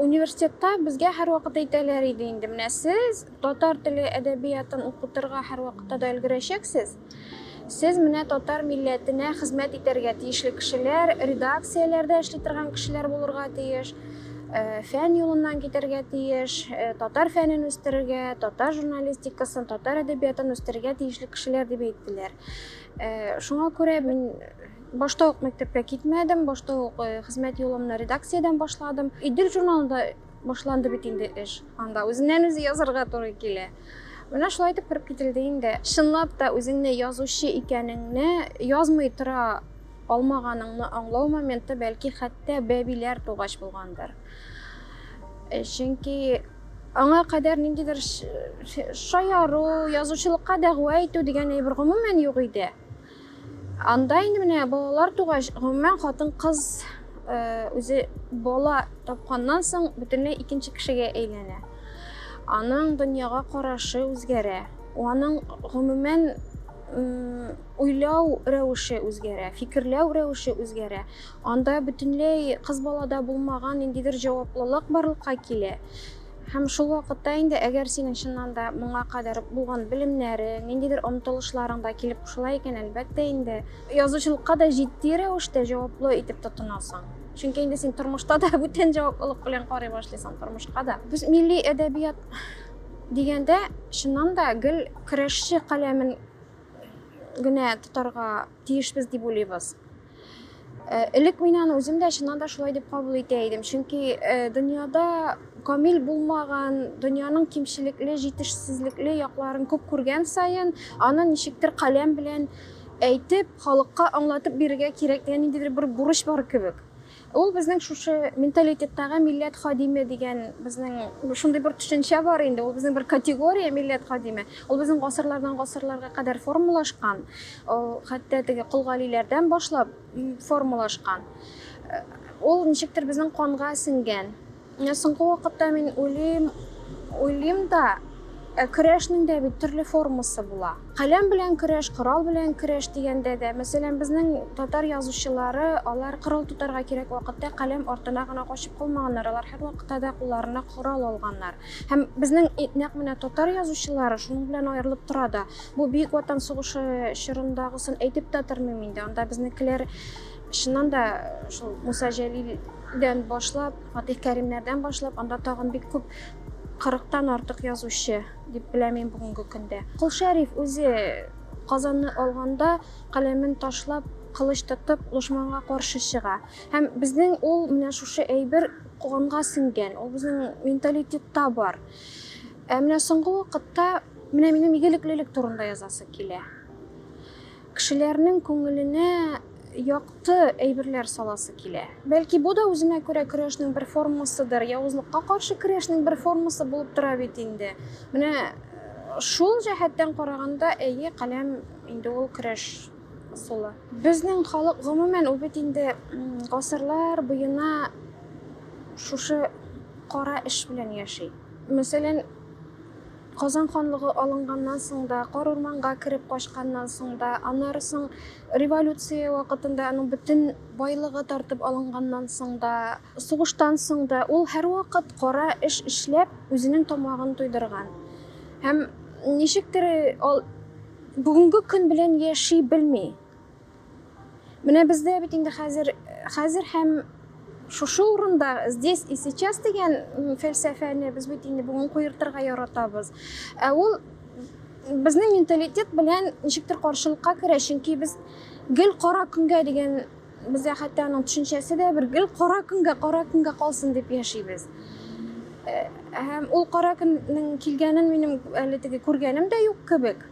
Университетта безгә һәрвакыт әйтәләр иде инде, менә сез татар теле әдәбиятын укытырга һәрвакытта да өлгерәчәксез. Сез менә татар милләтенә хезмәт итәргә тиешле кешеләр, редакцияләрдә эшли торган кешеләр булырга тиеш, э, фән юлыннан китәргә тиеш, э, татар фәнен үстерергә, татар журналистикасын, татар әдәбиятын үстерергә тиешле кешеләр дип әйттеләр. Э, шуңа күрә мин Башта ук мәктәпкә китмәдем, башта ук э, хезмәт юлымны редакциядән башладым. Идел журналында башланды бит инде эш. Анда үзеннән үзе язарга туры килә. Менә шулай итеп кереп кителде инде. Чынлап та үзеңне язучы икәнеңне язмый тора алмаганыңны аңлау моменты бәлки хәтта бәбиләр тугач булгандыр. Э, чөнки аңа кадәр ниндидер шаяру, язучылыкка дәгъва итү дигән әйбер гомумән юк иде. Анда инде менә балалар тугач, гомумән хатын-кыз үзе бала тапканнан соң бөтенләй икенче кешегә әйләнә. Аның дөньяга карашы үзгәрә. Аның гомумән уйлау рәвеше үзгәрә, фикерләү рәвеше үзгәрә. Анда бөтенләй кыз балада булмаган ниндидер җаваплылык барлыкка килә. Һәм шул вакытта инде, әгәр синең чыннан да моңа кадәр булган белемнәрең, ниндидер омтылышларың да килеп кушыла икән, әлбәттә инде, язучылыкка да җитди рәвештә җаваплы итеп тотынасың. Чөнки инде син тормышта да бүтән җаваплылык белән карый башлыйсың, тормышка да. Без милли әдәбият дигәндә, чыннан да гел көрәшче каләмен генә тотарга тиешбез дип уйлыйбыз. Э, элек мин аны үзем дә чыннан да шулай дип кабул итә идем чөнки э, дөньяда камил булмаган дөньяның кимчелекле җитешсезлекле якларын күп күргән саен аны ничектер каләм белән әйтеп халыкка аңлатып бирергә кирәк дигән ниндидер бер бурыч бар кебек Ул безнең шушы менталитеттагы милләт хадиме дигән безнең шундый бер төшенчә бар инде. Ул безнең бер категория милләт хадиме. Ул безнең гасырлардан гасырларга кадәр формалашкан. Ул хәтта теге колгалиләрдән башлап формалашкан. Ул ничектер безнең канга сеңгән. Менә соңгы вакытта мин уйлыйм, уйлыйм да, э, көрәшнең дә бит төрле формасы була. Каләм белән көрәш, корал белән көрәш дигәндә дә, мәсәлән, безнең татар язучылары, алар корал тотарга кирәк вакытта каләм артына гына качып калмаганнар, алар һәрвакытта да кулларына корал алганнар. Һәм безнең нәкъ менә татар язучылары шуның белән аерылып тора да. Бу Бөек Ватан сугышы чорындагысын әйтеп тә тормыйм инде. Анда безнекеләр Чыннан да шул Муса Җәлилдән башлап, Фатих Кәримнәрдән башлап, анда тагын бик күп 40-тан артык язучы дип беләм мин бүгенге көндә. Кол Шәриф үзе Казанны алганда каләмен ташлап, кылыч тотып, дошманга каршы чыга. Һәм безнең ул менә шушы әйбер канга сеңгән, ул безнең менталитетта бар. Ә менә соңгы вакытта менә минем игелеклелек турында язасы килә. Кешеләрнең күңеленә якты әйберләр саласы килә. Бәлки бу да үзенә күрә көрәшнең бер формасыдыр, явызлыкка каршы көрәшнең бер формасы булып тора бит инде. Менә шул җәһәттән караганда, әйе, каләм инде ул көрәш ысулы. Безнең халык гомумән ул бит инде гасырлар буена шушы кара эш белән яши. Мәсәлән, Казан ханлыгы алынганнан соң да, Карурманга кереп качканнан соң да, аннары соң революция вакытында аның бөтен байлыгы тартып алынганнан соң да, сугыштан соң да ул һәрвакыт кара эш эшләп, үзенең тамагын туйдырган. Һәм ничектер ул бүгенге көн белән яши белми. Менә бездә бит инде хәзер хәзер һәм шушы урында здесь и сейчас дигән фәлсәфәне без бит инде бүген куертырга яратабыз. Ә ул безнең менталитет белән ничектер каршылыкка керә, чөнки без гел кара көнгә дигән бездә хәтта аның төшенчәсе дә бер гел кара көнгә кара көнгә калсын дип яшибез э, һәм ул кара көннең килгәнен минем әле теге күргәнем дә юк кебек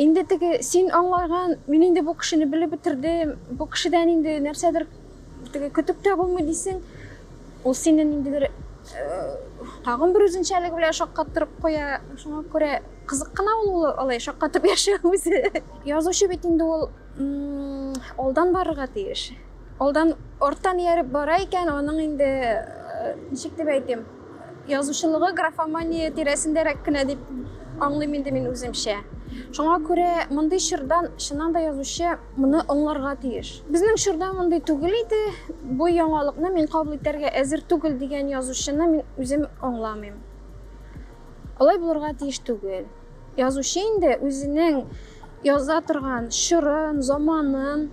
Инде теге син аңлаган, мин инде бу кешене белеп бетердем, бу кешедән инде нәрсәдер теге көтеп тә булмый дисең. Ул сине ниндидер тагын бер үзенчәлеге белән шаккаттырып куя. Шуңа күрә кызык кына ул алай шаккатып яшәү үзе. Язучы бит инде ул алдан барырга тиеш. Алдан арттан ияреп бара икән, аның инде ничек дип әйтим, Язучылыгы графомания тирәсендәрәк кенә дип аңлыйм инде мин үземчә. Шуңа күрә мондый чордан чыннан да язучы моны аңларга тиеш. Безнең чорда мондый түгел иде, бу яңалыкны мин кабул итәргә әзер түгел дигән язучыны мин үзем аңламыйм. Алай булырга тиеш түгел. Язучы инде үзенең яза торган чорын, заманын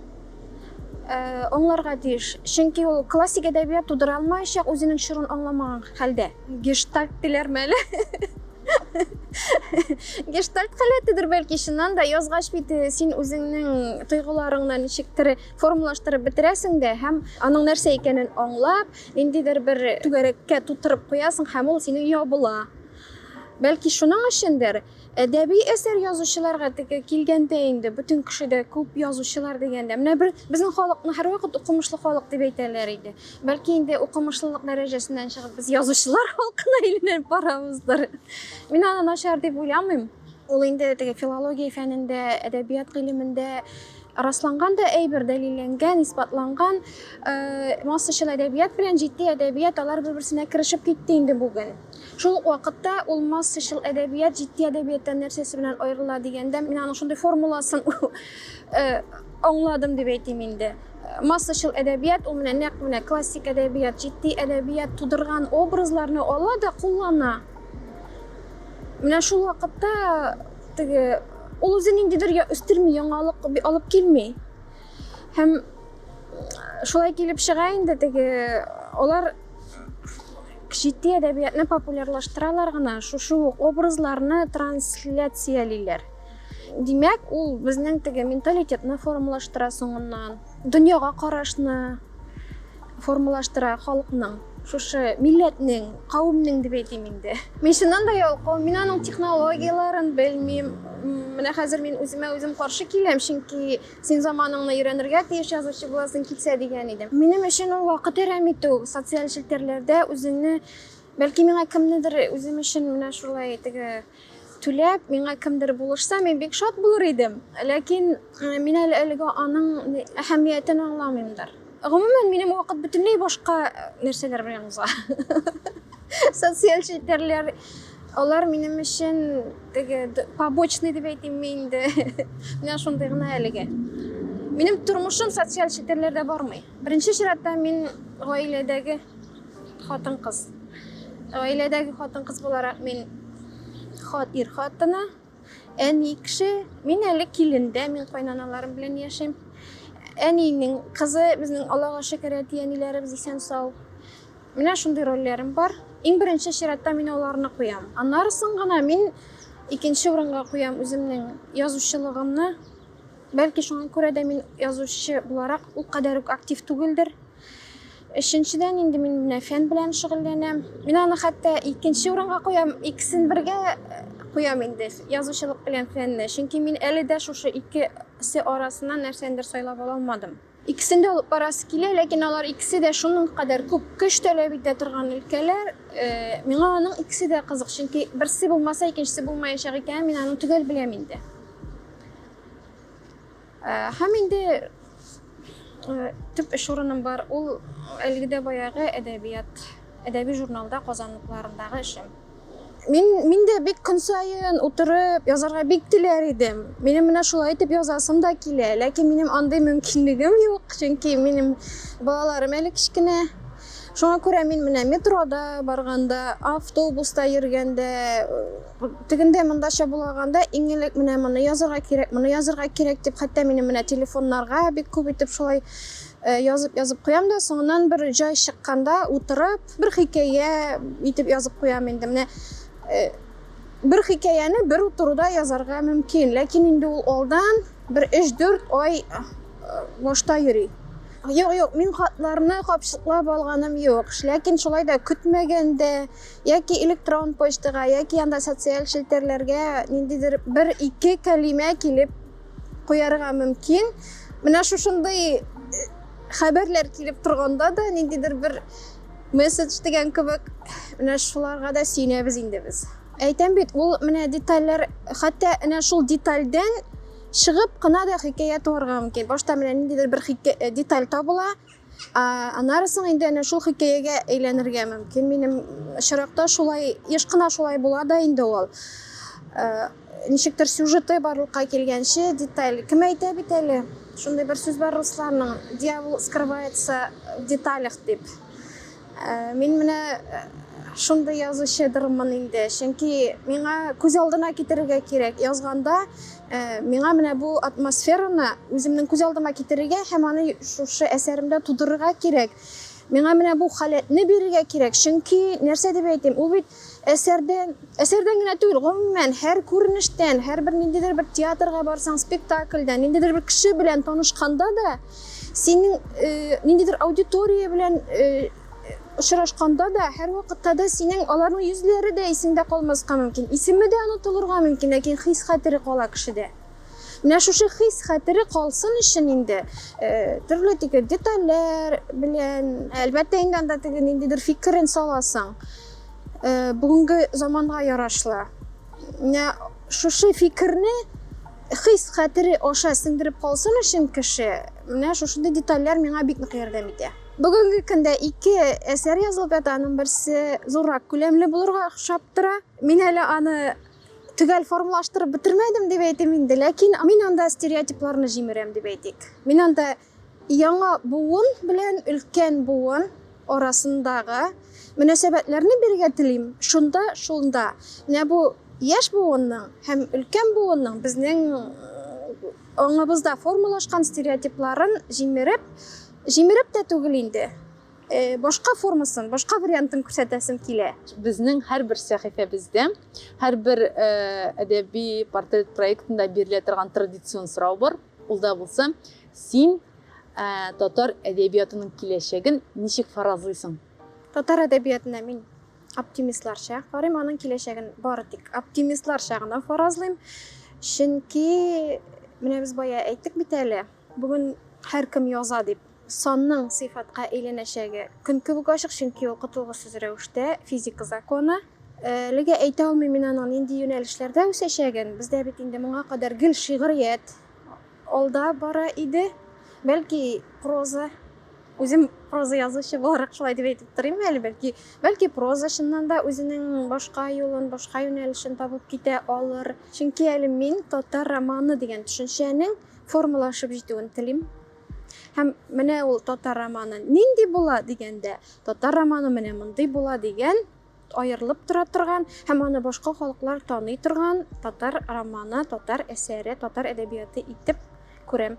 аңларга тиеш. Чөнки ул классик әдәбият тудыра алмаячак, үзенең чорын аңламаган хәлдә. Гештальт диләрме әле? Гештальт халәтедер бәлки чыннан да язгач бит э, син үзеңнең тойгыларыңны ничектер формалаштырып бетерәсең дә һәм аның нәрсә икәнен аңлап, ниндидер бер түгәрәккә тутырып куясың һәм ул синең ябыла. Бәлки шуның өчендер, әдәби әсәр язучыларга теге килгәндә инде бөтен кеше дә күп язучылар дигәндә, менә бер безнең халыкны һәрвакыт укымышлы халык дип әйтәләр иде. Бәлки инде укымышлылык дәрәҗәсеннән чыгып без язучылар халкына әйләнеп барабыздыр. Мин аны начар дип уйламыйм. Ул инде теге филология фәнендә, әдәбият гыйлемендә расланган да әйбер, дәлилләнгән, исбатланган. Э, массачыл әдәбият белән җитди әдәбият алар бер-берсенә керешеп китте инде бүген. Шул ук вакытта ул массачыл әдәбият җитди әдәбияттан нәрсәсе белән аерыла дигәндә, мин аның шундый формуласын э, аңладым дип әйтим инде. Массачыл әдәбият ул менә нәкъ менә классик әдәбият, җитди әдәбият тудырган образларны ала да куллана. Менә шул вакытта Теге ул үзе ниндидер я үстерми, яңалык алып килми. Һәм шулай килеп чыга инде теге алар җитди әдәбиятны популярлаштыралар гына, шушы ук образларны трансляциялиләр. Димәк, ул безнең теге менталитетны формалаштыра соңыннан, дөньяга карашны, формалаштыра халыкның шушы милләтнең кавемнең дип әйтим инде мин чыннан да ялкау мин аның технологияләрен белмим менә хәзер мин үземә үзем каршы киләм чөнки син заманыңны өйрәнергә тиеш язучы буласың килсә дигән идем минем өчен ул вакыт әрәм итү социаль челтәрләрдә үзеңне бәлки миңа кемнедер үзем өчен менә шулай теге түләп, миңа кемдер булышса, мин бик шат булыр идем. Ләкин мин әле әлегә аның әһәмиятен аңламыймдыр. Гомумән, минем вакыт бөтенләй башка нәрсәләр белән уза. Социаль челтәрләр алар минем өчен теге побочный дип әйтимме инде. Менә шундый гына әлегә. Минем тормышым социаль челтәрләрдә бармый. Беренче чиратта мин гаиләдәге Хатын-кыз. Гаиләдәге хатын-кыз буларак мин хат ир хатыны, әни кеше, мин әле килендә, мин кайнаналарым белән яшим. Әнинең кызы, безнең Аллага шөкер, әти-әниләребез исән сау. Менә шундый рольләрем бар. Иң беренче чиратта мин аларны куям. Аннарысын гына мин икенче урынга куям үземнең язучылыгымны. Бәлки шуңа күрә дә мин язучы буларак ул кадәр үк актив түгелдер. Өченчедән инде мин менә фән белән шөгыльләнәм. Мин аны хәтта икенче урынга куям, икесен бергә э, куям инде, язучылык белән фәнне. Чөнки мин әле дә шушы икесе арасыннан нәрсәндер сайлап ала алмадым. Икесен дә алып барасы килә, ләкин алар икесе дә шуның кадәр күп көч таләп итә торган өлкәләр. Э, миңа аның икесе дә кызык, чөнки берсе булмаса, икенчесе булмаячак икәнен мин аны төгәл беләм инде. Э, һәм инде э, төп эш урыным бар ул әлеге дә баягы әдәбият әдәби журналда казанлыкларындагы эшем мин мин дә бик көн саен утырып язарга бик теләр идем минем менә шулай итеп язасым да килә ләкин минем андый мөмкинлегем юк чөнки минем балаларым әле кечкенә шуңа күрә мин менә метрода барганда автобуста йөргәндә Тегендә монда чабулаганда иң элек менә моны язырга кирәк, моны язырга кирәк дип, хәтта минем менә телефоннарга бик күп итеп шулай э, язып язып куям да, соңыннан бер җай чыкканда утырып, бер хикәя итеп язып куям инде. Менә э, бер хикәяне бер утыруда язарга мөмкин, ләкин инде ул алдан бер 3-4 ай э, башта йөри. Юк, юк, мин хатларны капчыклап алганым юк. Ләкин шулай да көтмәгәндә, Яки электрон почтага, яки анда социаль челтәрләргә ниндидер бер ике кәлимә килеп куярга мөмкин. Менә шушындый э, хәбәрләр килеп торганда да ниндидер бер месседж дигән кебек менә шуларга да сөенәбез инде без. Әйтәм бит, ул менә детальләр, хәтта менә шул детальдән чыгып кына да хикәя туарга мөмкин. Башта менә ниндидер бер э, деталь табыла, Аннары соң инде әнә шул хикәягә әйләнергә мөмкин. Минем очракта шулай еш кына шулай була да инде ул. Э, ничектер сюжеты барлыкка килгәнче деталь кем әйтә бит әле? Шундый бер сүз бар русларның, дьявол скрывается в деталях дип. Мин менә шундый язучыдырмын инде, чөнки миңа күз алдына китерергә кирәк. Язганда миңа менә бу атмосфераны үземнең күз алдыма китерергә һәм аны шушы әсәремдә тудырырга кирәк. Миңа менә бу халәтне бирергә кирәк, чөнки нәрсә дип әйтим, ул бит Әсәрдән, әсәрдән генә түгел, гомумән, һәр күренештән, һәрбер ниндидер бер театрга барсаң, спектакльдән, ниндидер бер кеше белән танышканда да, синең э, ниндидер аудитория белән э, очрашканда да, һәрвакытта да синең аларның йөзләре дә исеңдә калмаска мөмкин. Исеме дә онытылырга мөмкин, ләкин хис-хәтере кала кешедә. Менә шушы хис хәтере калсын өчен инде э, төрле теге детальләр белән, әлбәттә инде анда теге ниндидер фикерен саласың. Э, бүгенге заманга ярашлы. Менә шушы фикерне хис хәтере аша сеңдереп калсын өчен кеше, менә шушындый детальләр миңа бик нык ярдәм итә. Бүгенге көндә ике әсәр язылып ята, аның берсе зуррак күләмле булырга охшап тора. Мин әле аны төгәл формалаштырып бетермәдем дип әйтим инде ләкин мин анда стереотипларны җимерәм дип әйтик мин анда яңа буын белән өлкән буын арасындагы мөнәсәбәтләрне бирергә телим шунда шунда менә бу яшь буынның һәм өлкән буынның безнең аңыбызда формалашкан стереотипларын җимереп җимереп тә түгел инде Э, башка формасын, башка вариантын күрсәтәсем килә. Безнең һәрбер сәхифәбездә, һәрбер э, әдәби портрет проектында бирелә торган традицион сорау бар. Ул да булса, син э, татар әдәбиятының киләчәген ничек фаразлыйсың? Татар әдәбиятына мин оптимистларча карыйм, аның киләчәген бары тик оптимистларча гына фаразлыйм. Чөнки менә без бая әйттек бит әле, бүген һәркем яза дип Санның сыйфатка әйләнәчәге көн кебек ачык, чөнки ул котылгысыз рәвештә физика законы. Әлегә әйтә алмыйм мин аның нинди юнәлешләрдә үсәчәген. Бездә бит инде моңа кадәр гел шигърият алда бара иде. Бәлки, проза, үзем проза язучы буларак шулай дип әйтеп торыйм әле, бәлки, бәлки проза чыннан да үзенең башка юлын, башка юнәлешен табып китә алыр. Чөнки әле мин татар романы дигән төшенчәнең формалашып җитүен телим. Һәм менә ул татар романы нинди була дигәндә, татар романы менә мондый була дигән аерылып тора торган һәм аны башка халыклар таный торган татар романы, татар әсәре, татар әдәбияты итеп күрәм.